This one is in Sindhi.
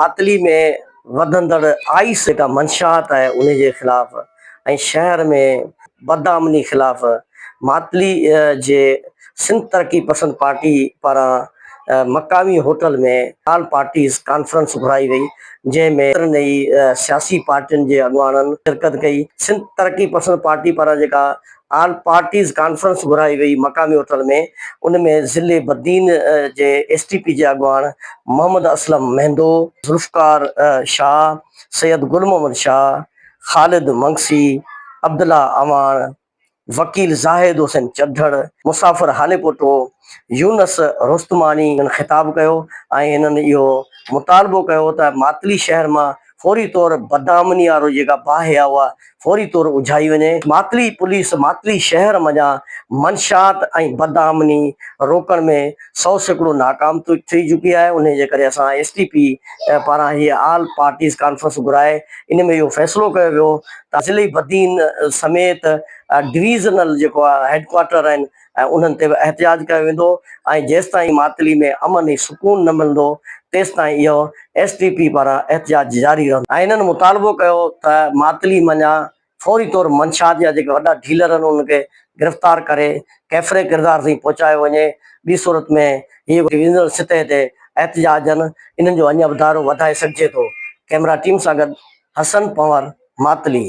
پاتلي ۾ وڌندڙ آئس جيڪا منشاهات آهي انهي جي خلاف ۽ شهر ۾ بدامني خلاف ماتلي جي سنڌ ترقي پسند پارٽي پاران مقامي هوٽل ۾ آل پارٽيز ڪانفرنس گهرائي وئي جنهن ۾ ڪيترن ئي سياسي پارٽين جي اڳواڻن شرڪت ڪئي سنڌ ترقي پسند پارٽي پاران جيڪا آل پارٽيز ڪانفرنس گهرائي وئي مقامي هوٽل ۾ ان ۾ ضلعي بدين جي ايس ٽي پي جي اڳواڻ محمد اسلم مهندو، ذوالفقار شاهه، سيد گل محمد شاهه، خالد منگسي، عبدالله اعواڻ، وڪيل زاهد حسين چڍڙ، مسافر هاليپوٽو، يونس رستماڻي خطاب ڪيو ۽ هنن اهو مطالبو ڪيو ته ماتلي شهر مان فوري طور بدامني وارو جيڪا باهه آهي اها فوري طور اجهائي وڃي. ماتلي پوليس ماتلي شهر منجهان منشيات ۽ بدامني روڪڻ ۾ سؤ سيڪڙو ناڪام ٿي چڪي آهي انهي جي ڪري اسان ايس ٽي پي پاران هيء آل پارٽيز ڪانفرنس گهرائي ان ۾ اهو فيصلو ڪيو ويو ته ضلعي بدين سميت ڊويزنل جيڪو آهي هيڊ ڪوارٽر آهن ۽ انهن تي به احتجاج ڪيو ويندو ۽ جيستائين معطلي ۾ امن ۽ سڪون نه ملندو تيستائين اهو ايس ٽي پي پاران احتجاج جاري رهندو. ۽ انهن مطالبو ڪيو ته معطلي منجهان فوري طور منشيات جا جيڪي وڏا ڊيلر آهن انهن کي گرفتار ڪري ڪيفري ڪردار تائين پهچايو وڃي ٻي صورت ۾ هي ويندڙ سطح تي احتجاج آهن انهن جو اڃا به دائرو وڌائي سگهجي ٿو ڪئميرا ٽيم سان گڏ حسن پنور معطلي.